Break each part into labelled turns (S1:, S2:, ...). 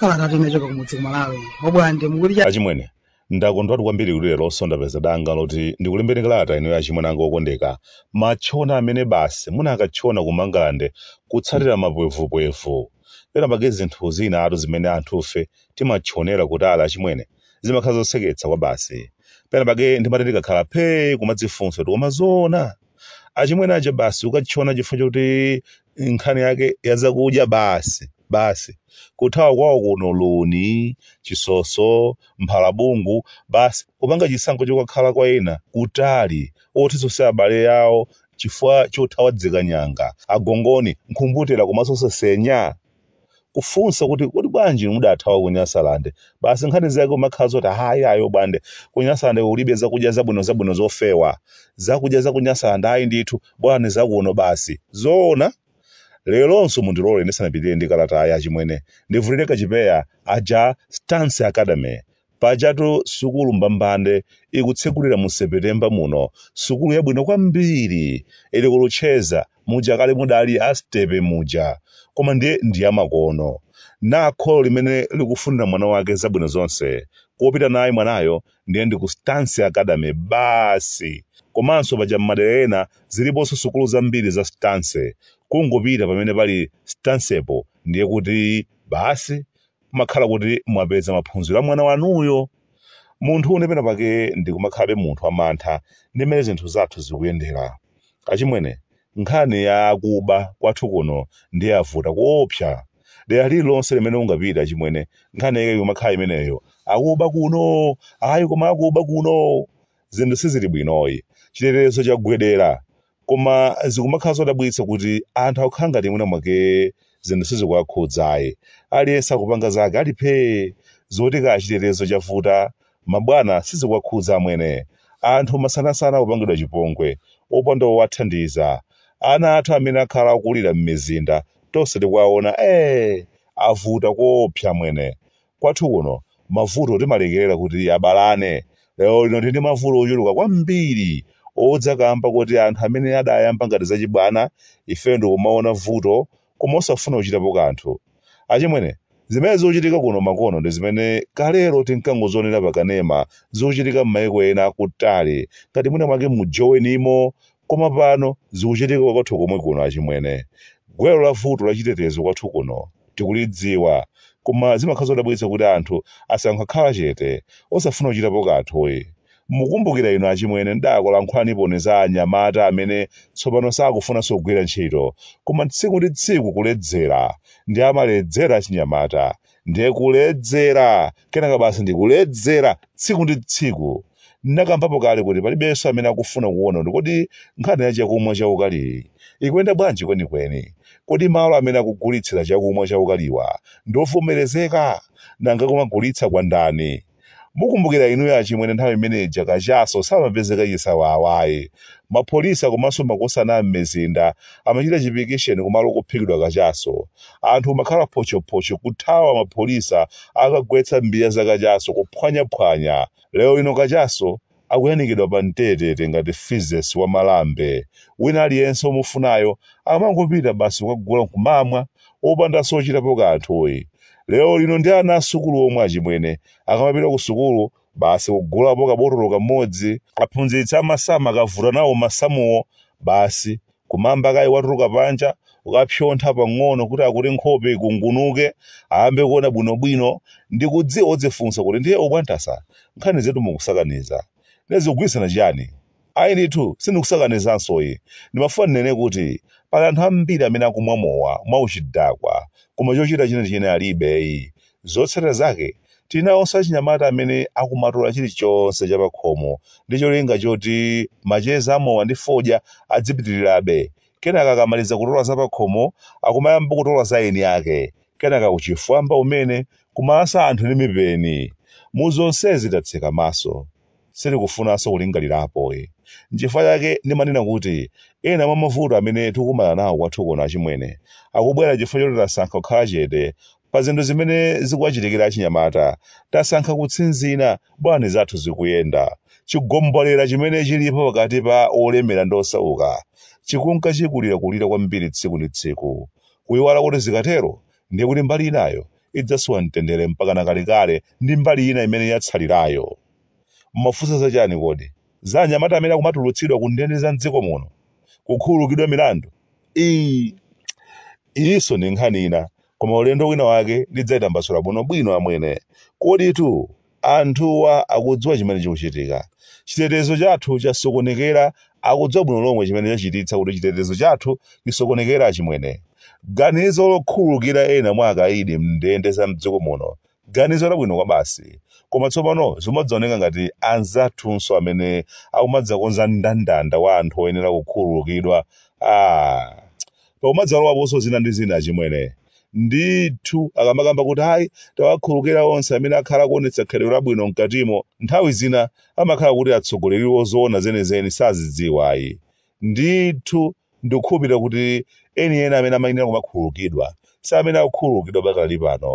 S1: Kalata kuchoka kumudzi ku malawi obwande mukuti chani
S2: achimwene ndakondwatu kwambiri kuti lero nso ndapeza danga loti ndikulembereni kalata ineyo achimwene anga okondeka matchona amene basi munakatchona ku mangalande kutsatira mapwevupwevu Pena pake zinthu zinatu zimene anthufe timatchonera kutali achimwene, zimakhala zoseketsa kwabasi. Pena pake ndimati ndikakhala phee kumadzifunsa kuti koma zoona? Achimwene aja basi kukatchona chifukwa choti nkhani yake ya zakudya basi, basi. Kuthawa kwawo kuno luni, chisoso, mphalabungu, basi kupanga chisankho chokakhala kwa ena kutali, otizo osati abale awo chifukwa chothawa dzikanyanga, agongoni, nkhumbutera komanso sesenya? Kufunsa kuti kodi bwanji mudathawa ku Nyasaland? Basi nkhani zake kumakhala zoti ayi ayi obwande, ku Nyasaland kulibe zakudya zabwinozabwino zofewa. Zakudya za ku Nyasaland ayi ndithu, bolani za kuno basi. Zoona? Leronso mundilole ndisanapitirire ndi kalatayi achimwene, ndivulire kachipeya, aja Stance Academy, Pajatu sukulu mbambande ikutsegulira mu Sepetemba muno, sukulu yabwino kwambiri, ili ku Luchenza, muja kale mudali a Stepe muja, koma ndiye ndi yamakono. Na kholo limene likufunira mwana wake zabwino zonse, kopita naye mwanayo ndiye ndi ku Stance Academy basi! Komanso paja m'madera ena ziliponso sukulu zambiri za Stance, kungopita pamene pali Stancepo ndiye kuti basi kumakhala kuti mwapeza maphunziro a mwana wanuyo munthune pena pake ndikumakhalabe munthu amantha ndi mmene zinthu zathu zikuyendera achimwene nkhani ya akuba kwathu kuno ndiye avuta koopsa dera lililonse limene ungapite achimwene nkhani yake ikumakhala imeneyo akuba kuno ayi koma akuba kuno zinthu sizili bwinoyi chitetezo chagwedera koma zikumakhala zodabwitsa kuti anthu akukhala ngati mwina mwake zinthu sizikuwakhudzayi aliyense akupanga zake ali phee zoti kaya chitetezo chavuta mabwana sizikuwakhudza amwene anthu masanasana akupangidwa chipongwe opanda owathandiza ana athu amene akhala akulira m'mizinda tonse tikuwaona ee avuta koopsa amwene Kwathu kuno mavuto timalekerera kuti abalane. Lero lino tili ndi mavuto ochuluka kwambiri odza kaamba koti anthu amene adayamba ngati zachibwana ife n'kumaona vuto koma osafuna kuchitapo kanthu. Achimwene, zimene zochitika kuno makono ndi zimene kalelo tinkangozionera pakanema zochitika m'maiko ena akutali ngati mwina mwake mu Jonimo Koma pano zikuchitika kwathu komwe kuno achimwene. Gwero la vuto la chitetezo kwathu kuno tikulidziwa koma zimakhala zodabwitsa kuti anthu asankha kukhala chete osafuna kuchitapo kanthuyi. Mukumbukira inu achimwene ndidakulankhulaniponi za anyamata amene tsopano sakufunanso kugwira ntchito koma tsiku ndi tsiku kuledzera ndi amaledzera achinyamata nde kuledzera kenaka basi ndikuledzera tsiku ndi tsiku ndinakambapo kale kuti palibenso amene akufuna kuona kuti kodi nkhani ya chakumwa chaukaliyi ikuyenda bwanji kwenikweni kodi malo amene akugulitsira chakumwa chaukaliwa ndi ovomerezeka nanga kumagulitsa kwa ndani mukumbukira inuyo achimwene nthawi imene ija kachaso samapezeka chisawawayi mapolisi komanso makhosana am'midzimu amachita chipikisheni kumalo kophikidwa kachaso anthu kumakhala phochophocho kuthawa mapolisa akagwetsa mbiya za kachaso kuphwanyaphwanya lero lino kachaso akuyanikidwa pa mtetete ngati fizesi wa malambe wina aliyense omufunayo amangopita basi kukagula nkumamwa opandanso ochitapo kanthuyi lero lino ndi ana asukulu omwe achimwene akamapita ku sukulu basi kugulapo kabotolo kamodzi aphunzitsi amasamu akavuta nawo masamuwo basi kunama kaye watuluka panja kukapsontha pang'ono kuti akuti nkhope ikungunuke ayambe kuona bwinobwino ndikudziwa mudzifunsa kuti ndiye a Bwantasa nkhani zetu mukusakanizanu zikugwirizana chiyani Ayi ndithu, sindikusakanizansoyi. Ndimafuna ndinene kuti, pali anthu ambiri amene akumwa mowa mwauchidakwa koma chochita chenicheni alibeyi. Zotsatira zake, tili nawonso achinyamata amene akumatola chilichonse cha pakhomo ndi cholinga choti macheza a mowa ndi fodya adzipitirirabe, kenaka akamaliza kutola za pakhomo, akumayamba kutola za eni ake, kenaka uchifwamba umene, kumalasa anthu ndi mipeni. Mu zonsezi tatseka maso. Sitikufunanso kulingalirapoyi. Nchifukwa chake ndimanena kuti ena mwa mavuto amene tikukumana nawo kwathu kuno achimwene, akubwera chifukwa choti tasankha kukhala chete pa zinthu zimene zikuwachitikira achinyamata, tasankha kutsinzina. Bola zathu zikuyenda. Chigombolera chimene chilipo pakati pa olemera ndi osauka chikunka chikulirakulira kwambiri tsiku ndi tsiku. Kuiwala kuti zikatero ndiye kuti mbali inayo idzasowa mtendere mpakana kalekale ndi mbali ina imene yatsalirayo. Mumafunsa za chani kodi? Za anyamata amene akumatulutsidwa ku ndende za m'dziko muno? Kukhululukidwa milandu? Ii! Iyinso ndi nkhani ina, koma ulendo wina wake ndidzaitambasula bwinobwino amwene. Koditu Anthuwa akudziwa chimene chikuchitika. Chitetezo chathu chasokonekera Akudziwa bwino lomwe chimene chachititsa kuti chitetezo chathu chisokonekere Achimwene. Ganizo lokhululukira ena mwa akaidi m'ndende za m'dziko muno ganizo labwino kwabasi. Koma tsopano zimadzaoneka ngati anzathunso amene akumadzakonza mndandanda wa anthu oyenera kukhululukidwa. Aaa! Pakumadzalowaponso zina ndi zina achimwene. Ndithu, akamakamba kuti ayi, tawakhululukira onse amene akhala akuonetsa khalidwe labwino m'katimo, nthawi zina amakhala kuti atsogoleriwo zoona zenizeni sazidziwa ayi. Ndithu, ndikukhulupirira kuti enieni amene amayenera kumakhululukidwa si amene akukhululukidwa pakali pano.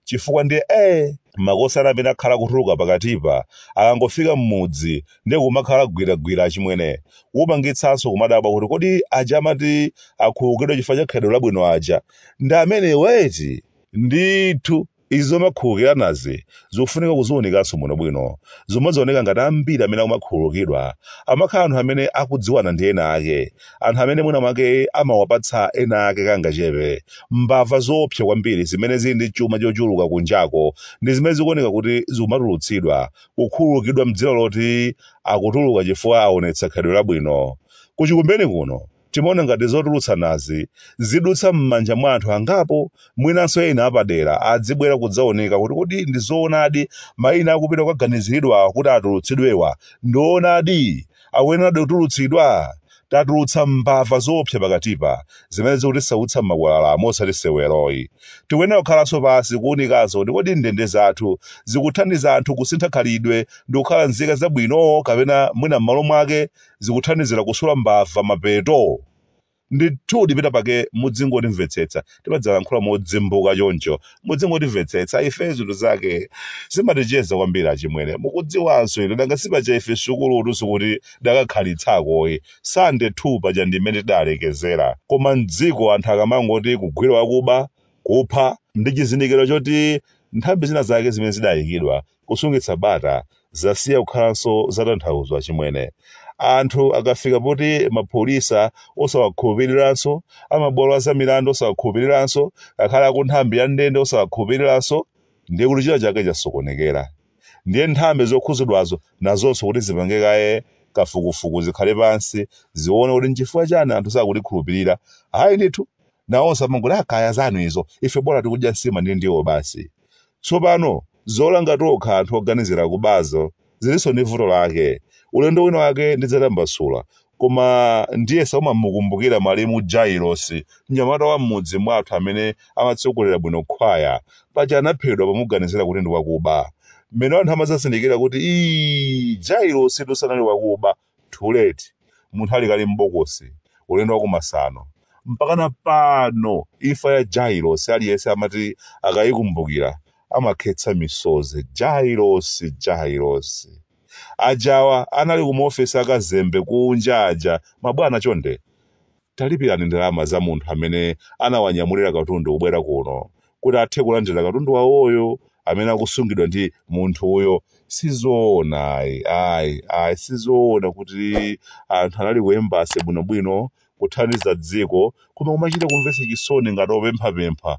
S2: chifukwa ndiye ee makosana amene akhala kutuluka pakatipa akangofika mmudzi ndiye kumakhala gwiragwira achimwene kupangitsanso kumadabwa kuti kodi aja amati akhululukidwa chifukwa cha khalidwe labwino aja ndi amenewa eti ndithu izi zomakhululukiranazi zikufunika kuziunikanso bwinobwino zomadzaoneka ngati ambiri amene akumakhululukidwa amakhala anthu amene akudziwana ndi ena ake anthu amene mwina mwake amawapatsa ena ake kangachepe mbava zoopsa kwambiri zimene zili ndi chuma chochuluka kunjako ndi zimene zikuoneka kuti zikumatulutsidwa kukhululukidwa mdzina loti akutuluka chifukwa aonetsa khalidwe labwino kuchikumbeni kuno timaona ngati zotulutsanazi zizidutsa m'manja mwa anthu angapo mwinanso ena apadera adzibwera kudzaunika kuti kodi ndi zoonadi maina akupita kukaganiziridwa kuti atulutsidwewa ndi oonadi akuyenera kutulutsidwa? Tatulutsa mbava zoopsa pakatipa zimene zikutisautsa m'makwalalamo osati seweroyi. Tikuyenera kukhalanso pansi kuunikanso kuti kodi ndende zathu zikuthandiza anthu kusintha khalidwe ndi kukhala nzika zabwino kapena mwina m'malo mwake zikuthandizira kusula mbava mapeto? ndithu pena pake mudzingotimvetsetsa timadzalankhula modzimbuka choncho mudzingotimvetsetsa ife zinthu zake zimaticheza kwambiri achimwene mukudziwanso ino danga sipaja ife sukulu tunso sitidakakhalitseko ayi standard 2 paja ndi imene tidalekezera koma mdziko anthu akamangoti kugwira wakuba kupha ndi chizindikiro choti nthambi zina zake zimene zidayikidwa kusungitsa bata zasiya kukhalanso zatanthauzo achimwene. Anthu akafika poti apolisi osawakhulupiriranso, amabwalo a zamilandu osawakhulupiriranso, ngakhale akunthambi ya ndende osawakhulupiriranso, ndiye kuti china chake chasokonekera. Ndiye nthambi zokhudzidwazo nazonso kuti zipange kaye kafukufuku, zikhale pansi, zione kuti n'chifukwa chani anthu sakutikhulupirira. Ayi ndithu, nawonso amangoti ah kaya zanu izo, ife bola tikudya nsima ndi ndiwo basi. Tsopano, zolanga tokha anthu oganizira kubazo zilinso ndi vuto lake. Ulendo wina wake ndidzatambasula, koma ndiyesa umamukumbukira malemu Jailosi, mnyamata wa m'mudzi mwathu amene amatsogolera bwino khwaya. Paja anaphedwa pomuganizira kuti ndi wakuba. Mmene anthu amadzazindikira kuti, Iii, Jailositu sanali wakuba! Too late. Munthu ali kale m'bokosi. Ulendo wa kumasano. Mpakana pano imfa ya Jailosi aliyense amati akaikumbukira amakhetsa misozi. Jailosi, Jailosi. Ajawa anali kumaofesi a Kazembe kunja aja, mabwana chonde. Talipirani ndalama za munthu amene anawanyamulira katundu kubwera kuno, kuti athe kulandira katundu wawoyo amene akusungidwa ndi munthuyo. Si zoona ayi, ayi, ayi, si zoona kuti anthu anali ku embassy bwinobwino, kuthandiza dziko, koma kumachita kumvetsa chisoni ngati opemphapempha,